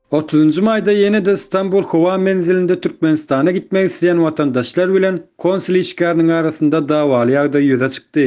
Otuzynjy maýda ýene-de Stambul howa menzilinde Türkmenistana gitmek isleýän watandaşlar bilen konsul işgäriniň arasynda dawaly ýagdaý ýüze çykdy.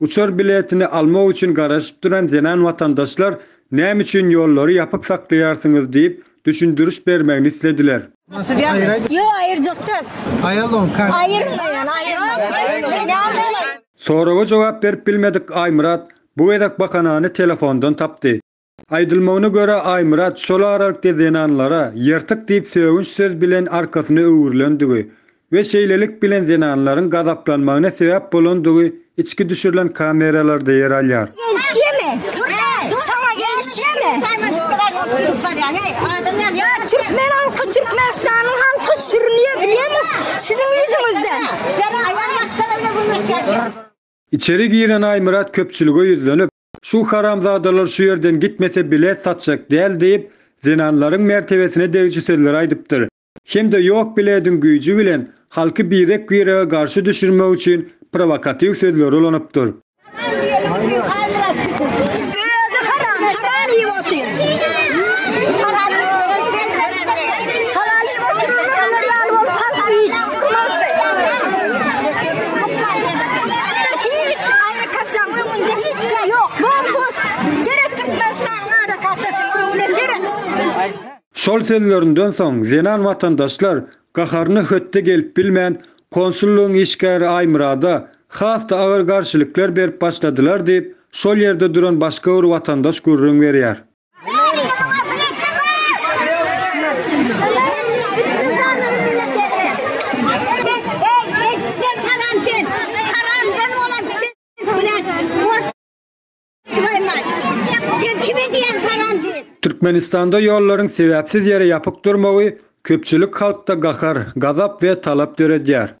Uçar biletini almak üçin garaşyp duran zenan watandaşlar näme üçin ýollary ýapyk saklaýarsyňyz diýip, düşündiriş bermegini islediler. Soraga jogap berip bilmedik Aýmyrat bu gezek bahanany telefondan tapdy. Aýdylmagyna görä, Aýmyrat şol aralykda zenanlara ýyrtyk diýip sögünç söz bilen arkasyna öwrülendigi we şeýlelik bilen zenanlaryň gazaplanmagyna sebäp bolandygy içki düşürilen kameralarda ýer alýar. Içeri giren Aýmyrat köpçülige ýüzlenip, Şu haramzadalar şu ýerden gitmese bilet satjak däl diýip, zenanlaryň mertebesine degiji sözler aýdypdyr hem-de ýok bilediň güýji bilen halky birek-birege garşy düşürmek üçin prowokatiw sözleri ulanypdyr. Kasaň öňünde hiç kim ýok, bom-boş! Seret Türkmenistanyň ara kasasyň öňüne, seret! Şol sözlerinden soň zenan watandaşlar gaharyna hötde gelip bilmän, konsullygyň işgäri Aýmyrada has-da agyr garşylyklar berip başladylar diýip, şol ýerde duran başga bir watandaş gürrüň berýär. Türkmenistanda ýollaryň sebäpsiz ýere ýapyk durmagy köpçülik halkda gahar, gazap we talap döredýär.